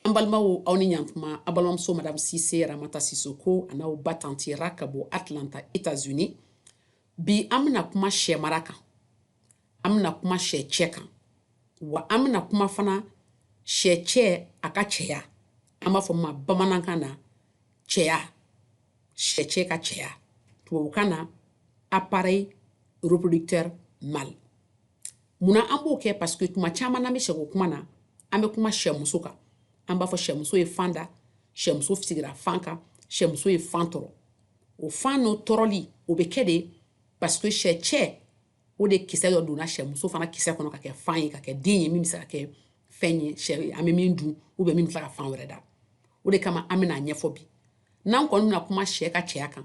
an balimaw aw ni ɲantuma aw balimamuso madame cissé ramata sisoko a n'aw ba tanti ra ka bɔ atlanta états unis bi an bɛna kuma sɛ mara kan an bɛna kuma sɛ cɛ kan wa an bɛna kuma fana sɛ cɛ a ka cɛya an b'a fɔ min ma bamanankan na cɛya sɛ cɛ ka cɛya tubabukan na appareil reproducteur mâle munna an b'o kɛ parce que tuma caman n'an bɛ sɛko kuma na an bɛ kuma sɛmuso kan an b'a fɔ sɛmuso ye fan da sɛmuso sigira fan kan sɛmuso ye fan tɔrɔ o fan n'o tɔrɔli o bɛ kɛ de parce que sɛ cɛ o de kisɛ dɔ donna sɛmuso fana kisɛ kɔnɔ ka kɛ fan ye ka kɛ den ye min bɛ se ka kɛ fɛn ye sɛ an bɛ min dun ou bien min bɛ se ka fan wɛrɛ da o de kama an bɛn'a ɲɛfɔ bi n'an kɔni bɛna kuma sɛ ka cɛya kan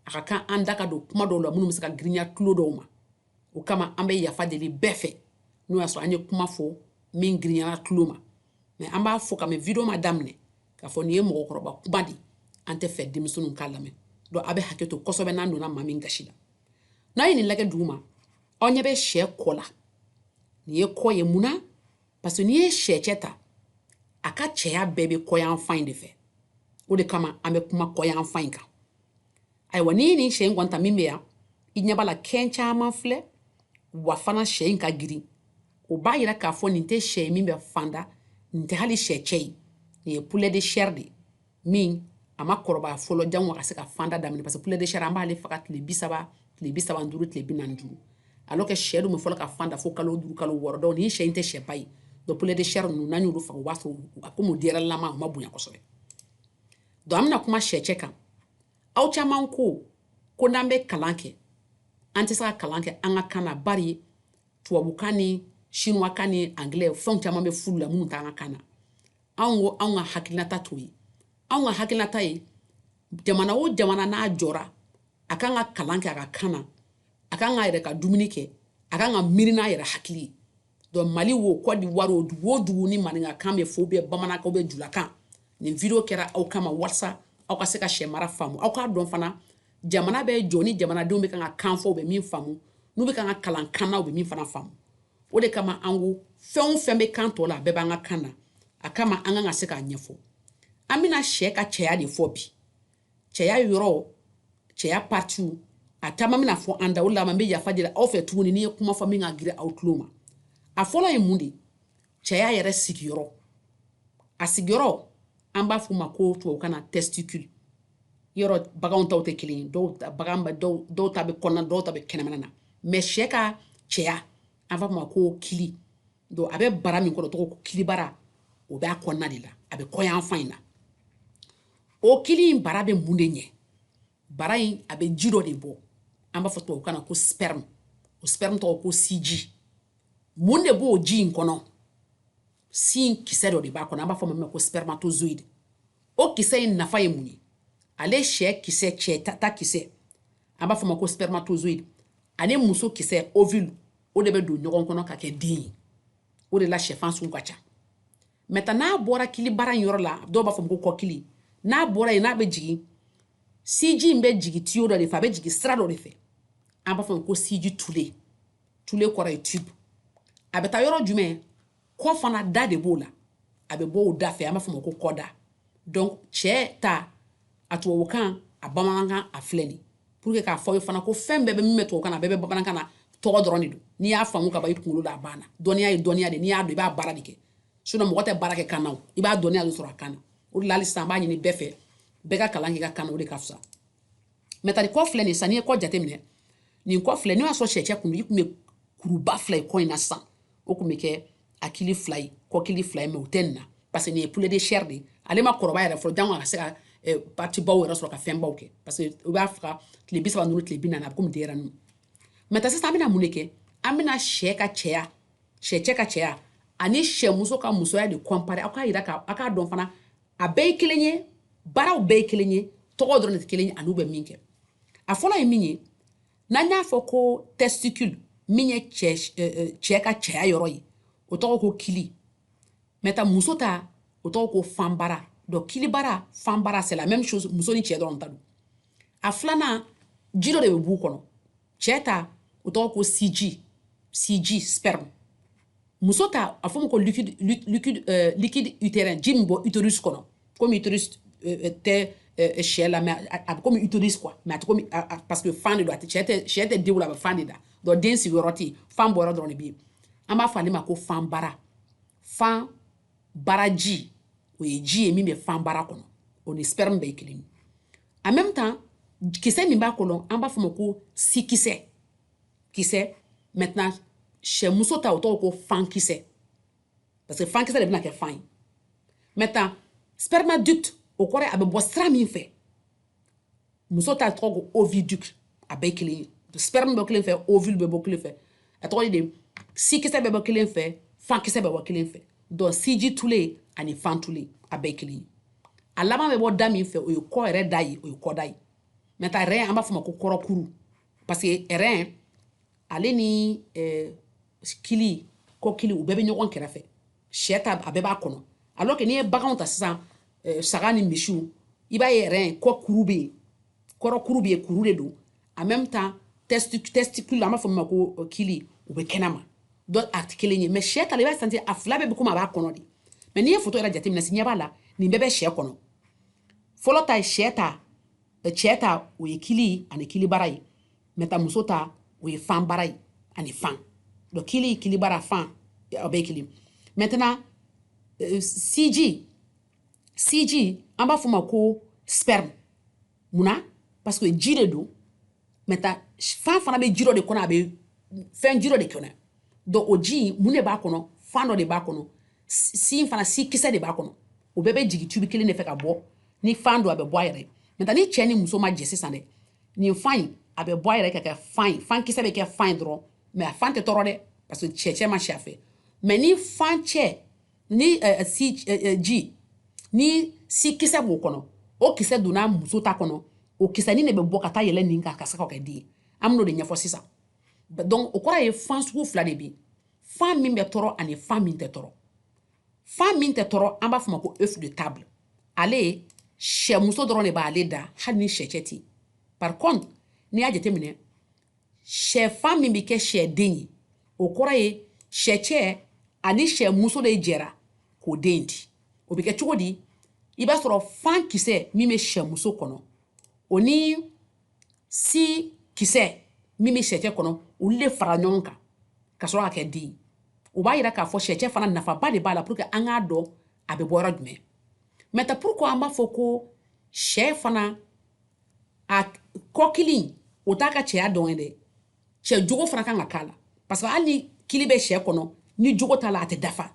a ka kan an da ka don kuma dɔw la minnu bɛ se ka girinya tulo dɔw ma o kama an bɛ yafa deli bɛɛ fɛ n'o y'a sɔrɔ an ye kuma fɔ min girinyara tulo ma mais an b'a fɔ kabini video ma daminɛ k'a fɔ nin ye mɔgɔkɔrɔba kuma de an t'a fɛ denmisɛnninw k'a lamɛn donc aw bɛ hakɛ to kosɛbɛ n'an donna maa min gasi la n'aw ye nin lajɛ duguma aw ɲɛ bɛ sɛ kɔ la nin ye kɔ ye mun na parce que n'i ye sɛ cɛ ta a ka cɛya bɛɛ bɛ kɔyanfan in de fɛ o de kama an bɛ kuma kɔyanfan in kan ayiwa n'i ye nin sɛ in kɔni ta min bɛ yan i ɲɛ b'a la kɛn caman filɛ wa fana sɛ in ka girin o b'a yira k'a fɔ nin tɛ sɛ ye min bɛ fan da nin tɛ hali sɛ cɛ ye nin ye poulet de chair de ye min a ma kɔrɔbaya fɔlɔ jango a ka se ka fan da daminɛ parce que poulet de chair an b'ale faga tile bi saba tile bi saba ni duuru tile bi naani ni duuru alors que sɛ dun bɛ fɔlɔ ka fan da fo kalo duuru kalo wɔɔrɔ donc nin sɛ in tɛ sɛba ye donc poulet de chair ninnu n'an y'olu faga o b'a sɔrɔ a komi o denyɛrɛnilama o ma bonya kosɛbɛ donc an bɛna kuma sɛcɛ kan aw caman ko ko n'an bɛ kalan kɛ an tɛ se ka kalan kɛ an ka kan na bari tubabukan ni sinuwakan ni angilɛ fɛnw caman bɛ f'olu la minnu t'an ka kan na anw ko anw ka hakilinata t'o ye anw ka hakilinata ye jamana o jamana n'a jɔra a kan ka kalan kɛ a ka kan na a kan k'a yɛrɛ ka dumuni kɛ a kan ka miiri n'a yɛrɛ hakili ye donc mali wo kɔdiwari o dugu o dugu ni maninkakan bɛ fɔ ou bien bamanankan ou bien julakan nin video kɛra aw kama walasa aw ka se ka sɛ mara faamu aw k'a dɔn fana jamana bɛ jɔ ni jamanadenw bɛ kan ka kan fɔ u bɛ min faamu n'u bɛ kan ka kalan kan na u bɛ min fana faamu o de kama an ko fɛn o fɛn bɛ kan tɔw la a bɛɛ b'an ka kan na o kama an kan ka se k'a ɲɛfɔ an bɛna sɛ ka cɛya de fɔ bi cɛya yɔrɔ cɛya partiw a caman bɛna fɔ an da o la an bɛ yafa deli aw fɛ tuguni ni n ye kuma fɔ min ka girin aw tulo ma a fɔlɔ ye mun de ye cɛya yɛrɛ sigiyɔrɔ a sigiyɔrɔ an b'a f'o ma ko tubabukan na testicule yɔrɔ baganw taw tɛ kelen ye dɔw bagan dɔw dɔw ta bɛ kɔnɔna dɔw ta bɛ kɛnɛmana mais sɛ ka cɛya an b'a f'o ma ko kili don a bɛ bara min kɔnɔ tɔgɔ ko kilibara o b'a kɔnɔna de la a bɛ kɔ yanfan in na o kili in bara bɛ mun de ɲɛ bara in a bɛ ji dɔ de bɔ an b'a fɔ tubabukan na ko sperme o sperme tɔgɔ ko siji mun de b'o ji in kɔnɔ sikisɛ dɔ de b'a kɔnɔ an b'a fɔ ma ko spermatozoïde o kisɛ in nafa ye mun ye ale sɛ kisɛ cɛ ta, ta kisɛ an b'a fɔ ma ko spermatozoïde ani muso kisɛ ovule o de bɛ don ɲɔgɔn kɔnɔ ka kɛ den ye o de la sɛfan sugu ka ca maintenant n'a bɔra kilibara in yɔrɔ la dɔw b'a fɔ ko kɔkili n'a bɔra yen n'a bɛ jigin siji in bɛ jigin tiyo dɔ de fɛ a bɛ jigin sira dɔ de fɛ an b'a fɔ ko siji tule tule kɔrɔ ye tube a bɛ taa yɔrɔ jumɛn kɔ fan na da de b'o la a bɛ bɔ o da fɛ an b'a fɔ ma ko kɔda donc cɛ ta a tubabukan a bamanankan a filɛ nin pour que k'a fɔ aw ye fana ko fɛn bɛɛ bɛ min bɛ tubabukan na a bɛɛ bɛ bamanankan na tɔgɔ dɔrɔn de don n'i y'a faamu ka ban i kunkolo la a banna dɔnniya ye dɔnniya de n'i y'a dɔn i b'a baara de kɛ sinon mɔgɔ tɛ baara kɛ kan na i b'a dɔnniya de sɔrɔ a kan na o de la hali sisan an b'a ɲini bɛɛ fɛ bɛɛ ka kalan k'i ka kan na o de ka fisa maintenant ale kɔ filɛ nin san n'i ye kɔ jateminɛ nin kɔ filɛ n'o y'a sɔrɔ sɛcɛ kun i kun bɛ kuruba fila ye kɔ in na sisan o kun bɛ kɛ a kili fila ye kɔkili fila ye mais o tɛ nin na parce que nin ye poulet de chair de ye ale ma kɔrɔbaya fɔlɔ jango a ka se ka eh, patibaw yɛrɛ sɔrɔ ka fɛnbaw kɛ parce que u b'a faga tile bi saba ni duuru tile bi naani a bɛ komi denyɛrɛ ninnu maintenant sisan an bɛna mun de kɛ an bɛna sɛ ka cɛya sɛ cɛ ka cɛya ani sɛmuso ka musoya de comparer aw k'a yira ka aw k'a dɔn fana a bɛɛ ye kelen ye baaraw bɛɛ ye kelen ye tɔgɔ dɔrɔn de tɛ kelen ye an'u bɛ min kɛ a fɔlɔ ye min ye n'an y'a fɔ ko testicule min ye cɛ cɛ ka cɛya yɔrɔ ye o tɔgɔ ko kili maintenant muso ta o tɔgɔ ko fanbara donc kilibara fanbara c'est la même chose muso ni cɛ dɔrɔn ta don a filanan ji dɔ de bɛ b'u kɔnɔ cɛ ta o tɔgɔ ko siji siji sperme muso ta a fɔ ma ko liquide liquide euh, liquide utérin ji min bɔ utérus kɔnɔ komi utérus euh, euh, tɛ euh, sɛ la mais a bɛ komi utérus quoi mais a tɛ komi parce que fan de don a tɛ cɛ tɛ sɛ tɛ den wolo a bɛ fan de da donc den sigiyɔrɔ tɛ yen fan bɔyɔrɔ dɔrɔn de bɛ yen an b'a fɔ ale ma ko fanbara fanbaraji o ye ji ye min bɛ fanbara kɔnɔ o ni sperme bɛɛ ye kelen ye en même temps kisɛ min b'a kɔnɔ an b'a fɔ ma ko sikisɛ kisɛ maintenant sɛmuso ta o tɔgɔ ko fankisɛ parce que fankisɛ de bɛna kɛ fan ye maintenant spermiducte o kɔrɔ a bɛ bɔ sira min fɛ muso ta tɔgɔ ko oviducte a bɛɛ kelen ye sperme bɛ bɔ kelen fɛ ovule bɛ bɔ kelen fɛ a tɔgɔ de sikisɛ bɛ bɔ kelen fɛ fankisɛ bɛ bɔ kelen fɛ donc siji tule ani fan tule a bɛɛ kelen ye a laban bɛ bɔ da min fɛ o ye kɔ yɛrɛ da ye o ye kɔda ye maintenant rein an b'a fɔ ma ko kɔrɔkuru parce que rein ale ni eh, kili kɔkili u bɛɛ bɛ ɲɔgɔn kɛrɛfɛ sɛ ta a bɛɛ b'a kɔnɔ alors que n'i ye baganw ta sisan eh, saga ni misiw i b'a ye rein kɔkuru bɛ yen kɔrɔkuru bɛ yen kuru de don en même temps test testicule an b'a fɔ min ma ko euh, kili u bɛ kɛnɛma donc a tɛ kelen ye mais sɛ ta la i b'a sentir a fila bɛɛ bɛ komi a b'a kɔnɔ de mais n'i ye foto yɛrɛ jateminɛ signe b'a la nin bɛɛ bɛ sɛ kɔnɔ fɔlɔ ta ye sɛ ta euh, cɛ ta o ye kili ani kilibara ye maintenant muso ta o ye fan bara ye ani fan donc kili kilibara fan o bɛɛ kelen maintenant euh, siji siji an b'a fɔ ma ko sperme munna parce que ji de don maintenant fan fana bɛ ji dɔ de kɔnɔ a bɛ fɛn ji dɔ de kɔnɔ donc o ji mun de b'a kɔnɔ fan dɔ de b'a kɔnɔ sin fana si kisɛ de b'a kɔnɔ o bɛɛ bɛ jigin tubi kelen de fɛ ka bɔ ni fan don a bɛ bɔ a yɛrɛ maintenant ni cɛ ni muso ma jɛ sisan dɛ nin fan in a bɛ bɔ a yɛrɛ ka kɛ fan ye fan kisɛ bɛ kɛ fan ye dɔrɔn mais a fan tɛ tɔɔrɔ dɛ parce que cɛ cɛ ma si a fɛ mais ni fan cɛ ni eh, eh, si eh, ji ni si kisɛ b'o kɔnɔ o kisɛ donna muso ta kɔnɔ o kisɛnin de bɛ bɔ ka taa yɛlɛn nin kan ka se ka kɛ den ye an bɛn'o de ɲɛfɔ sisan donc o kɔrɔ ye fan sugu fila de bɛ yen fan min bɛ tɔɔrɔ ani fan min tɛ tɔɔrɔ fan min tɛ tɔɔrɔ an b'a fɔ ma ko œuf de table ale sɛmuso dɔrɔn de b'ale da hali ni sɛcɛ tɛ yen par contre n'i y'a jateminɛ sɛfan min bɛ kɛ sɛden ye o kɔrɔ ye sɛcɛ ani sɛ muso de jɛra k'o den di o bɛ kɛ cogo di i b'a sɔrɔ fan kisɛ min bɛ sɛ muso kɔnɔ o ni si kisɛ min bɛ sɛcɛ kɔnɔ olu de fara ɲɔgɔn kan ka sɔrɔ ka kɛ den ye o b'a yira k'a fɔ sɛcɛ fana nafaba de b'a la pour que an k'a dɔn a bɛ bɔ yɔrɔ jumɛn maintenant pourquoi an b'a fɔ ko sɛ fana a kɔkili o t'a ka cɛya dɔrɔn ye dɛ cɛ jogo fana kan ka k'a la parce que hali ni kili bɛ sɛ kɔnɔ ni jogo t'a la a tɛ dafa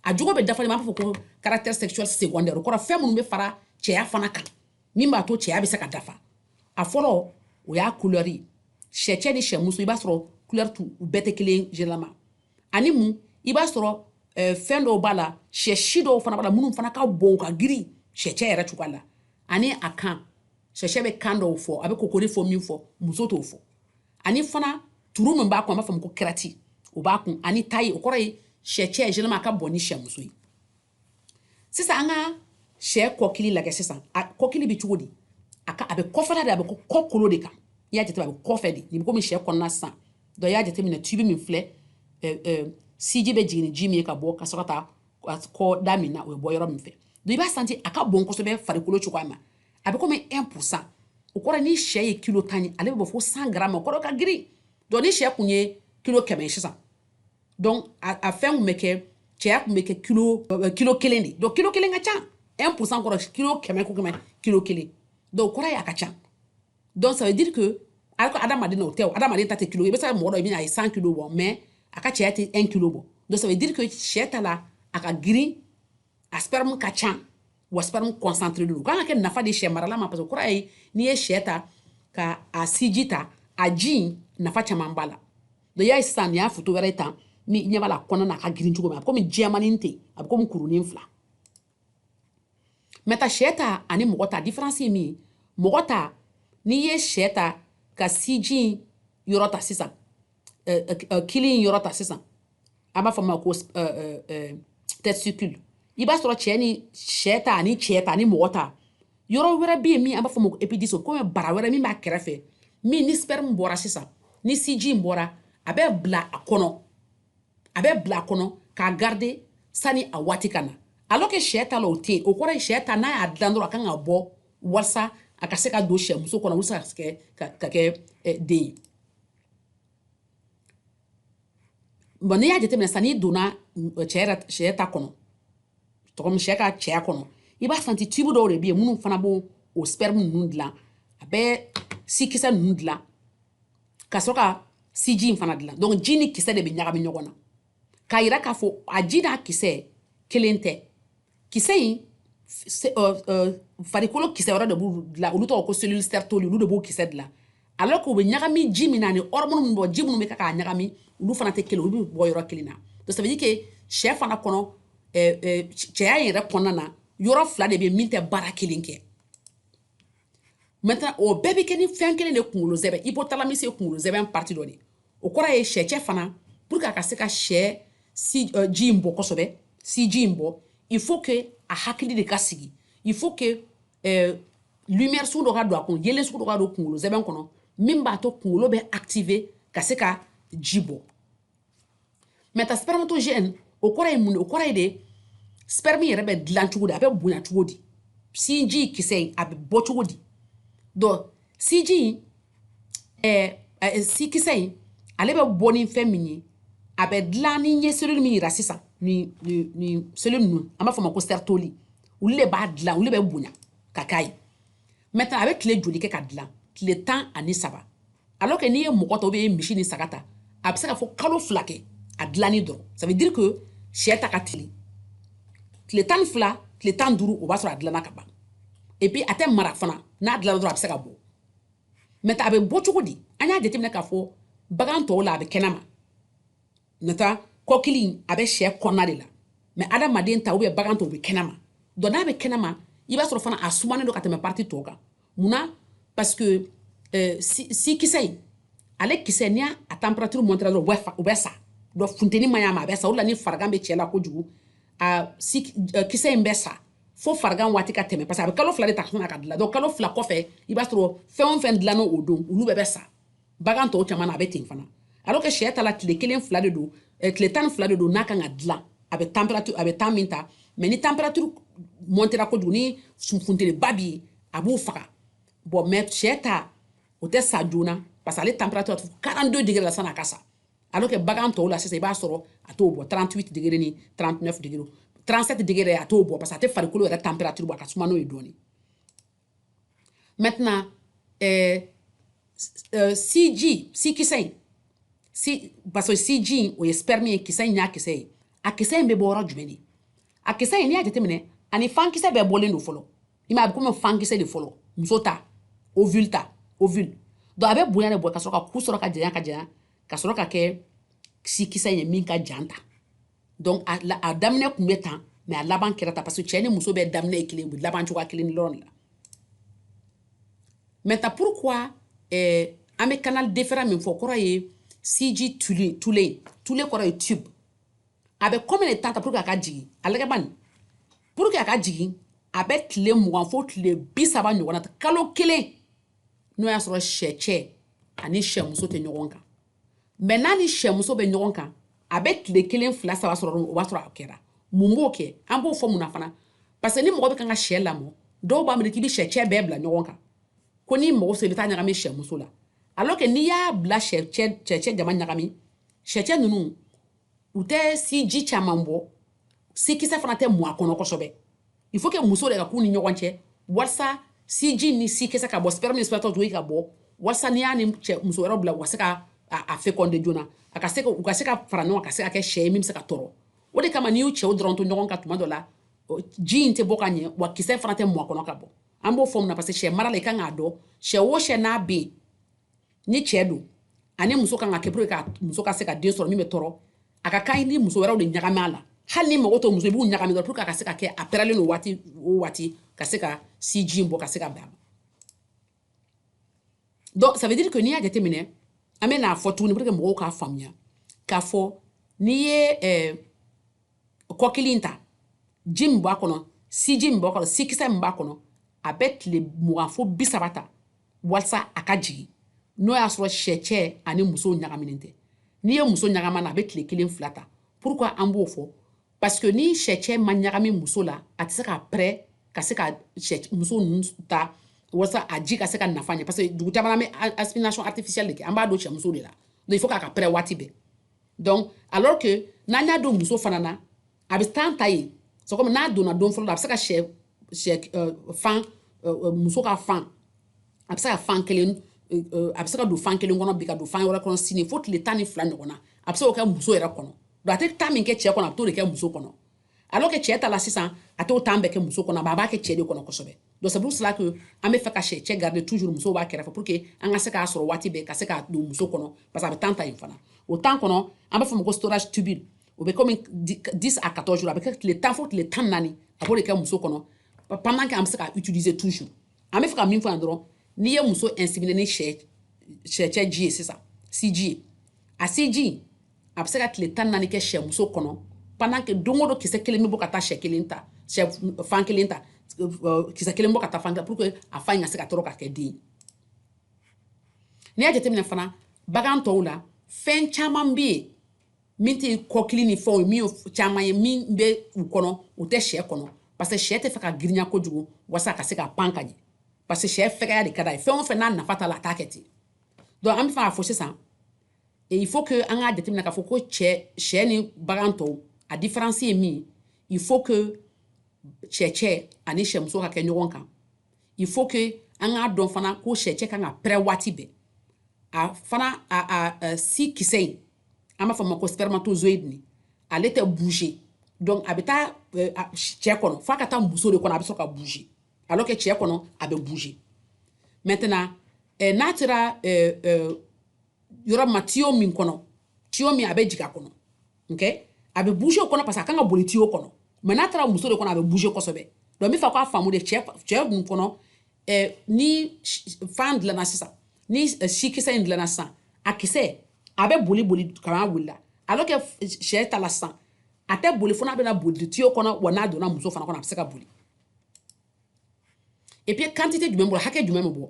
a jogo bɛ dafa de b'a fɔ ko caractère sexuel secondaire o kɔrɔ fɛn minnu bɛ fara cɛya fana kan min b'a to cɛya bɛ se ka dafa a fɔlɔ o y'a couleur ye sɛ cɛ ni sɛ muso i b'a sɔrɔ couleur tu u bɛɛ tɛ kelen généralement ani mun i b'a sɔrɔ fɛn dɔw b'a la sɛ si dɔw fana b'a la minnu fana ka bon ka girin sɛ cɛ yɛrɛ cogoya la ani a kan sɛcɛ bɛ kan dɔw fɔ a bɛ kokoriko min fɔ muso t'o fɔ ani fana turu min b'a kun an b'a fɔ ko crête o b'a kun ani taille o kɔrɔ ye sɛ cɛ généralement a ka bon ni sɛmuso ye sisan an ka sɛ kɔkili lajɛ sisan a kɔkili bɛ cogo di a ka a bɛ kɔfɛla de a bɛ ko kɔkolo de kan i y'a jateminɛ a bɛ kɔfɛ de nin bɛ komi sɛ kɔnɔna sisan donc i y'a jateminɛ tubi min filɛ siji bɛ jigin ni ji min ye ka bɔ ka sɔrɔ ka taa kɔ da min na o bɛ bɔ yɔrɔ min fɛ donc i b'a santi a ka bon kosɛbɛ farikolo cogoya ma a bɛ komi 1 pourcent o kɔrɔ ni sɛ ye kilo tan ye ale bɛ bɔ fo 100 gramme o kɔrɔ ka girin donc ni sɛ kun ye kilo kɛmɛ ye sisan donc a fɛn kun bɛ kɛ cɛya kun bɛ kɛ kilo euh, kilo kelen de donc kilo kelen ka ca 1 pourcent kɔrɔ kilo kɛmɛ o kɛmɛ kilo kelen donc o kɔrɔ ye a ka ca donc ça veut dire que alors que adamaden n'o tɛ o adamaden ta tɛ kilo i bɛ se ka mɔgɔ dɔ i bɛna a ye 100 kilo bɔ mais a ka cɛya tɛ 1 kilo bɔ donc ça veut dire que sɛ ta la a ka girin a sperme ka ca wa sperme concentré don u kan ka kɛ nafa de sɛ marala ma parce que o kɔrɔ ye n'i ye sɛ ta ka a siji ta a ji in nafa caman b'a la donc i y'a ye sisan nin y'a foto wɛrɛ ye tan n'i ɲɛ b'a la kɔnɔna na a ka girin cogo min a bɛ komi jɛmanin ten a bɛ komi kurunin fila maintenant sɛ ta ani mɔgɔ ta différence ye min ye mɔgɔ ta n'i ye sɛ ta ka siji in yɔrɔ ta sisan kili in yɔrɔ ta sisan an b'a fɔ ma ko testicule i b'a sɔrɔ cɛ ni sɛ ta ani cɛ ta ni mɔgɔ ta yɔrɔ wɛrɛ bɛ yen min an b'a fɔ ma ko épididyme o komi bara wɛrɛ min b'a kɛrɛfɛ min ni sperme bɔra sisan ni siji in bɔra a bɛ bila a kɔnɔ a bɛ bila kɔnɔ k'a garder sani a waati ka na alors que sɛ ta la o tɛ yen o kɔrɔ ye sɛ ta n'a y'a dilan dɔrɔn a kan ka bɔ walasa a ka se ka don sɛmuso kɔnɔ walasa ka kɛ ka kɛ eh, den ye bon n'i y'a jateminɛ sisan n'i donna eh, cɛ yɛrɛ sɛ ta kɔnɔ tɔgɔ min sɛ ka cɛya kɔnɔ i b'a santi tube dɔw de bɛ yen minnu fana b'o o sperme ninnu dilan a bɛ sikisɛ ninnu dilan ka sɔrɔ ka siji in fana dilan donc ji ni kisɛ de bɛ ɲagami ɲɔgɔn na k'a yira k'a fɔ a ji n'a kisɛ kelen tɛ kisɛ in euh, euh, farikolo kisɛ wɛrɛ de b'u dilan olu tɔgɔ ko cellule sertoli olu de b'o kisɛ dilan alors k'u bɛ ɲagami ji min na ni hormone min bɔ ji minnu bɛ kɛ k'a ɲagami olu fana tɛ kelen olu bɛ bɔ yɔrɔ kelen na donc ça veut dire que sɛ fana kɔnɔ cɛya in yɛrɛ kɔnɔna na yɔrɔ fila de bɛ min tɛ baara kelen kɛ maintenant o bɛɛ bɛ kɛ ni fɛn kelen de kunkolo zɛbɛ hypothalamus ye kunkolo zɛbɛ partie dɔ de o kɔrɔ ye sɛcɛ fana pour que a ka se ka sɛ si uh, ji in bɔ kosɛbɛ siji in bɔ il faut que a hakili de ka sigi il faut que uh, lumière sugu dɔ ka don a kun yelen sugu dɔ ka don kunkolo zɛbɛ kɔnɔ min b'a to kunkolo bɛ activer ka se ka ji bɔ maintenant spermatogène o kɔrɔ ye mun o kɔrɔ ye de sperme yɛrɛ bɛ dilan cogo di a bɛ bonya cogo di siji kisɛ in a bɛ bɔ cogo di donc siji in ɛɛ ɛɛ sikisɛ in ale bɛ bɔ ni fɛn min ye a bɛ dilan ne ye cellule min yira sisan nin nin nin cellule ninnu an b'a fɔ o ma ko sertoli olu de b'a dilan olu de bɛ bonya ka k'a ye maintenant a bɛ tile joli kɛ ka dilan tile tan ani saba alors que n'i ye mɔgɔ ta ou bien i ye misi ni saga ta a bɛ se ka fɔ kalo fila kɛ a dilanni dɔrɔn ça veut dire que sɛ ta ka teli tile tan ni fila tile tan duuru o b'a sɔrɔ a dilanna ka ban et puis a tɛ mara fana n'a dilanna dɔrɔn a bɛ se ka bɔ maintenant a bɛ bɔ cogo di an y'a jateminɛ k'a fɔ bagan tɔw la a bɛ kɛnɛma nata kɔkili in a bɛ sɛ kɔnɔna de la mais adamaden ta ou bien bagan ta u bɛ kɛnɛma donc n'a bɛ kɛnɛma i b'a sɔrɔ fana a sumanen don ka tɛmɛ partie tɔw kan munna parce que euh, si kisɛ in ale kisɛ ni a température montera dɔrɔn u bɛ sa donc funteni man ɲ'a ma a bɛ sa o la ni farigan bɛ cɛ la kojugu a si euh, kisɛ in bɛ sa fo farigan waati ka tɛmɛ parce que a bɛ kalo fila de ta ka dilan donc kalo fila kɔfɛ i b'a sɔrɔ fɛn o fɛn dilanna o don olu bɛɛ bɛ sa bagan tɔw caman na a bɛ ten fana alors que sɛ ta la tile kelen fila de don eh, tile tan ni fila de don n'a kan ka dilan a bɛ température a bɛ temps min ta mais ni température montera kojugu ni funteniba bɛ yen a b'u faga bon mais sɛ ta o tɛ sa joona parce que ale température tu 42 degré la san'a ka sa alors que bagan tɔw la sisan i b'a sɔrɔ a t'o bɔ 38 degré ni 39 degré 37 degré a t'o bɔ parce que a tɛ farikolo yɛrɛ température bɔ a ka suma n'o ye dɔɔni Maintenant, euh, euh, siji, si kisɛ in si parce que siji in o ye sperme ye kisɛ in y'a kisɛ ye a kisɛ in bɛ bɔ yɔrɔ jumɛn de a kisɛ in n'i y'a jateminɛ ani fankisɛ bɛɛ bɔlen don fɔlɔ i m'a ye a bɛ komi fankisɛ de fɔlɔ muso ta ovule ta ovule donc a bɛ bonya de bɔ ka sɔrɔ ka ku sɔrɔ ka janya ka janya ka sɔrɔ ka kɛ sikisɛ ye min ka jan tan donc a, a daminɛ tun bɛ tan mais a laban kɛra tan parce que cɛ ni muso bɛɛ daminɛ ye kelen u bɛ laban cogoya kelen dɔrɔn de la maintenant pourquoi eh, an bɛ canal déférent min fɔ kɔrɔ ye siji tule tule tule kɔrɔ ye tube a bɛ combien de temps ta pour que a ka jigin a lagɛ bani pour que a ka jigin a bɛ tile mugan fo tile bi saba ɲɔgɔn na ta kalo kelen n'o y'a sɔrɔ sɛcɛ ani sɛmuso tɛ ɲɔgɔn kan mais n'a ni sɛmuso bɛ ɲɔgɔn kan a bɛ tile kelen fila saba sɔrɔ o b'a sɔrɔ a kɛra mun b'o kɛ an b'o fɔ mun na fana parce que ni mɔgɔ bɛ kan ka sɛ lamɔ dɔw b'a miiri k'i bɛ sɛcɛ bɛɛ bila ɲɔgɔn kan ko n'i mago se i bɛ t'a ɲagami sɛmuso la alors que n'i y'a bila sɛcɛ jama ɲagami sɛcɛ ninnu u tɛ siji caman bɔ sikisɛ fana tɛ mɔ a kɔnɔ kosɛbɛ il faut que muso de ka k'u ni ɲɔgɔn cɛ walasa siji ni sikisɛ ka bɔ sperme ni spermatozoïde ka bɔ walasa n'i y'a ni sɛmuso wɛrɛw bila u ka se ka a féconder joona a ka se ka u ka se ka fara ɲɔgɔn ka se ka kɛ sɛ ye min bɛ se ka tɔrɔ o de kama n'i y'u cɛw dɔrɔn to ɲɔgɔn kan tuma dɔ la ji in tɛ bɔ ka ɲɛ wa kisɛ fana tɛ mɔ a kɔnɔ ka bɔ an b'o fɔ mun na parce que sɛ mara la i kan k'a dɔn sɛ o sɛ n'a bɛ yen ni cɛ don ani muso kan ka kɛ pour que muso ka se ka den sɔrɔ min bɛ tɔrɔ a ka kan ni muso wɛrɛw de ɲagami a la hali n'i mago t'o muso b'u ɲagami dɔrɔn pour que a ka se ka kɛ a pɛrɛlen don waati o waati ka se ka si ji in bɔ ka se ka bɛn a ma donc ça veut dire que n'i y'a jateminɛ an bɛn'a fɔ tuguni pour que mɔgɔw k'a faamuya k'a fɔ n'i ye ɛɛ eh, kɔkili in ta ji min b'a kɔnɔ siji min b'a kɔnɔ sikisɛ min b'a kɔnɔ a bɛ tile mugan fo bi saba ta walisa a ka jigin n'o y'a sɔrɔ sɛcɛ ani muso ɲagaminen tɛ n'i ye muso ɲagam'a na a bɛ tile kelen fila ta pourquoi an b'o fɔ parce que ni sɛcɛ ma ɲagami muso la a tɛ se ka pɛrɛ ka se ka muso ninnu ta walasa a ji ka se ka nafa ɲɛ parce que dugu caman an bɛ insémination artificielle de kɛ an b'a don sɛmuso de la donc il faut qu'a ka pɛrɛ waati bɛɛ donc alors que n'an y'a don muso fana na a bɛ temps ta yen c'est comme n'a donna don fɔlɔ la a bɛ se ka sɛ sɛ euh, fan euh, euh, muso ka fan a bɛ se ka fan kelen a bɛ se ka don fan kelen kɔnɔ bi ka don fan wɛrɛ kɔnɔ sini fo tile tan ni fila ɲɔgɔn na a bɛ se k'o kɛ muso yɛrɛ kɔnɔ donc a tɛ temps min kɛ cɛ kɔnɔ a bɛ t'o de kɛ muso kɔnɔ alors que cɛ ta la sisan a t'o temps bɛɛ kɛ muso kɔnɔ a b'a kɛ cɛ de kɔnɔ kosɛbɛ donc c'est pour cela que an bɛ fɛ ka sɛcɛ garder toujours muso b'a kɛrɛfɛ pour que an ka se k'a sɔrɔ waati bɛɛ ka se k'a don muso kɔnɔ parce que a bɛ temps ta yen fana o temps kɔnɔ an b'a fɔ o ma ko storage tubule o bɛ komi 10 à 14 jours a bɛ kɛ tile tan fo tile tan naani a b'o de kɛ muso kɔnɔ pendant que an bɛ se k'a utiliser toujours an bɛ fɛ ka min fɔ yan dɔrɔn n'i ye muso inséminer ni sɛ sɛcɛ ji ye sisan siji ye a siji a bɛ se ka tile tan naani kɛ sɛmuso kɔnɔ pendant que don o don kisɛ kelen bɛ bɔ ka taa sɛ kelen ta fan kelen ta kisɛ kelen bɔ ka taa fan ta pour que a fan in ka se ka tɔrɔ ka kɛ den ye n'i y'a jateminɛ fana bagan tɔw la fɛn caman bɛ yen min tɛ kɔkili ni fɛnw ye min ye caman ye min bɛ u kɔnɔ u tɛ sɛ kɔnɔ parce que sɛ tɛ fɛ ka girinya kojugu walasa ka se ka pan ka ɲɛ parce que sɛ fɛgɛya de ka d'a ye fɛn o fɛn n'a nafa t'a la a t'a kɛ ten donc an bɛ fɛ k'a fɔ sisan Et il faut que an k'a jateminɛ k'a fɔ ko cɛ sɛ ni bagan tɔw a différence ye min il faut que sɛcɛ ani sɛmuso ka kɛ ɲɔgɔn kan il faut que an k'a dɔn fana ko sɛcɛ kan ka pɛrɛ waati bɛɛ a fana a a si kisɛ in an b'a fɔ o ma ko spermatozoïde nin ale tɛ bouger donc a bɛ taa euh, cɛ kɔnɔ f'a ka taa muso de kɔnɔ a bɛ sɔrɔ ka bouger alors que cɛ kɔnɔ a bɛ bouger maintenant euh, n'a sera euh, euh, yɔrɔ ma tiyo min kɔnɔ tiyo min a bɛ jigin a kɔnɔ okay? a bɛ bouger o kɔnɔ parce que a kan ka boli tiyo kɔnɔ mais n'a taara muso de kɔnɔ a bɛ bouger kosɛbɛ donc n bɛ fɛ k'a faamu de cɛ cɛ dun kɔnɔ eh, ni fan dilanna sisan ni eh, sikisɛ in dilanna sisan a kisɛ a bɛ boli boli kamin'a wulila alors que sɛ ta la sisan a tɛ boli fo n'a bɛna boli tiyo kɔnɔ wa n'a donna muso fana kɔnɔ a bɛ se ka boli et puis quantité jumɛn b'o la hakɛ jumɛn bɛ bɔ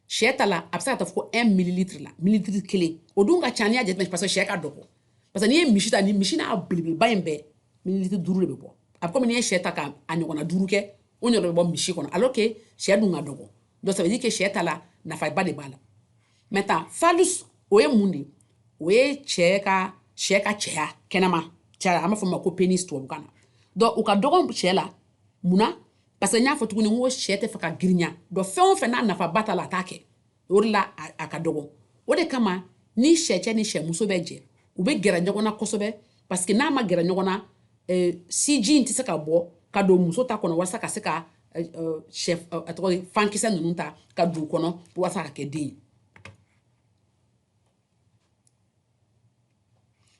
sɛ ta la a bɛ se ka taa fo 1 mililitre la mililitre kelen o dun ka ca n'i y'a jateminɛ parce que sɛ ka dɔgɔ parce que n'i ye misi ta ni misi n'a belebeleba in bɛɛ mililitre duuru de bɛ bɔ a bɛ komi n'i ye sɛ ta ka a ɲɔgɔnna duuru kɛ o ɲɔgɔn bɛ bɔ misi kɔnɔ alors que sɛ dun ka dɔgɔ donc ça veut dire que sɛ ta la nafaba de b'a la maintenant phallus o ye mun de ye o ye cɛ ka sɛ ka cɛya kɛnɛma cɛya an b'a fɔ o ma ko pénis tubabukan na donc o ka dɔgɔn sɛ la mun na parce que n y'a fɔ tuguni n ko sɛ tɛ fɛ ka girinya donc fɛn o fɛn n'a nafaba t'a la a t'a kɛ o de la a ka dɔgɔ o de kama ni sɛcɛ ni sɛmuso bɛ jɛ u bɛ gɛrɛ ɲɔgɔn na kosɛbɛ parce que n'a ma gɛrɛ ɲɔgɔn na eh, siji in tɛ se ka bɔ ka don muso ta kɔnɔ walasa ka se ka eh, eh, sɛ a tɔgɔ fankisɛ ninnu ta ka don u kɔnɔ walasa ka kɛ den ye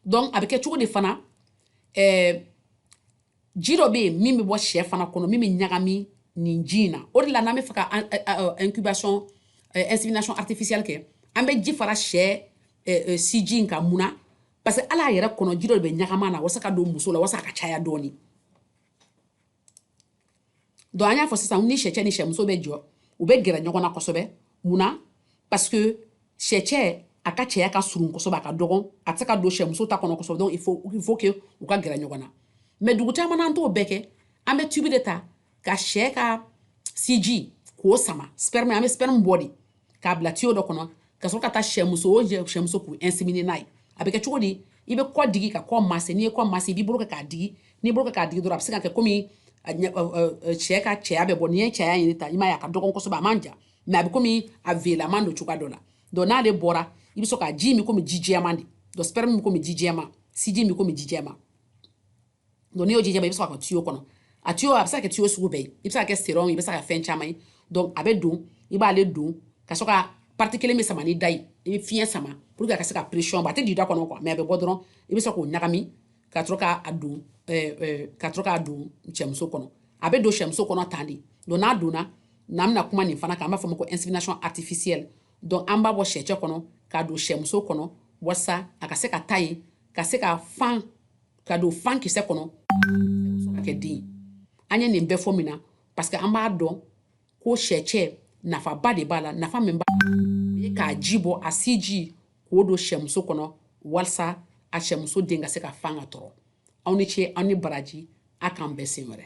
donc a bɛ kɛ cogo di fana ɛɛ eh, ji dɔ bɛ yen min bɛ bɔ sɛ fana kɔnɔ min bɛ ɲagami nin ji in na o de la n'an bɛ fɛ ka incubation insémination artificielle kɛ an bɛ ji fara sɛ siji in kan mun na parce que hal'a yɛrɛ kɔnɔ ji dɔ de bɛ ɲagam'a na walasa ka don muso la walasa a ka caya dɔɔni donc an y'a fɔ sisan ni sɛcɛ ni sɛmuso bɛ jɛ u bɛ gɛrɛ ɲɔgɔn na kosɛbɛ mun na parce que sɛcɛ a ka cɛya ka surun kosɛbɛ a ka dɔgɔn a tɛ se ka don sɛmuso ta kɔnɔ kosɛbɛ donc il faut il faut que u ka gɛrɛ ɲɔgɔn na mais dugu caman na an t'o bɛɛ kɛ an bɛ tubi de ta ka sɛ ka siji k'o sama sperme an bɛ sperme bɔ de k'a bila tiyo dɔ kɔnɔ ka sɔrɔ ka taa sɛmuso o sɛmuso k'u inséminer n'a ye a bɛ kɛ cogo di i bɛ kɔ digi ka kɔ masser n'i ye kɔ masser i b'i bolo kɛ k'a digi n'i bolo kɛ k'a digi dɔrɔn a bɛ se ka kɛ komi sɛ ka cɛya bɛ bɔ n'i ye cɛya nin ta i m'a ye a ka dɔgɔn kosɛbɛ a man jan mais a bɛ komi a velaman don cogoya dɔ la donc n'ale bɔra i bɛ sɔrɔ ka ji min komi ji jɛman de donc sperme min komi ji jɛman siji min komi ji jɛman donc n'i y'o jija i bɛ se ka kɛ tiyo kɔnɔ a tiyo a bɛ se ka kɛ tiyo sugu bɛɛ ye i bɛ se ka kɛ seringue i bɛ se ka fɛn caman ye donc a bɛ don i b'ale don ka sɔrɔ ka partie kelen bɛ sama ni da ye i bɛ fiɲɛ sama pour que a ka se ka pression bɔ a tɛ don i da kɔnɔ quoi mais a bɛ bɔ dɔrɔn i bɛ se k'o ɲagami ka sɔrɔ k'a don eh, eh, ka sɔrɔ k'a don sɛmuso kɔnɔ a bɛ don sɛmuso kɔnɔ tan de donc n'a donna na an bɛna kuma nin fana kan an b'a fɔ o ma ko insémination artificielle donc an b'a bɔ sɛcɛ kɔnɔ k'a don sɛmuso kɔnɔ walasa a ka se ka taa yen ka se ka fan ka don fan kisɛ kɔnɔ ka kɛ den an ye nin bɛɛ fɔ mun na parce que an b'a dɔn ko sɛcɛ nafaba de b'a la nafa min b'a la o ye k'a ji bɔ a siji k'o don sɛmuso kɔnɔ walisa a sɛmuso den ka se ka fan ka tɔrɔ aw ni ce aw ni baraji a k'an bɛn siɲɛ wɛrɛ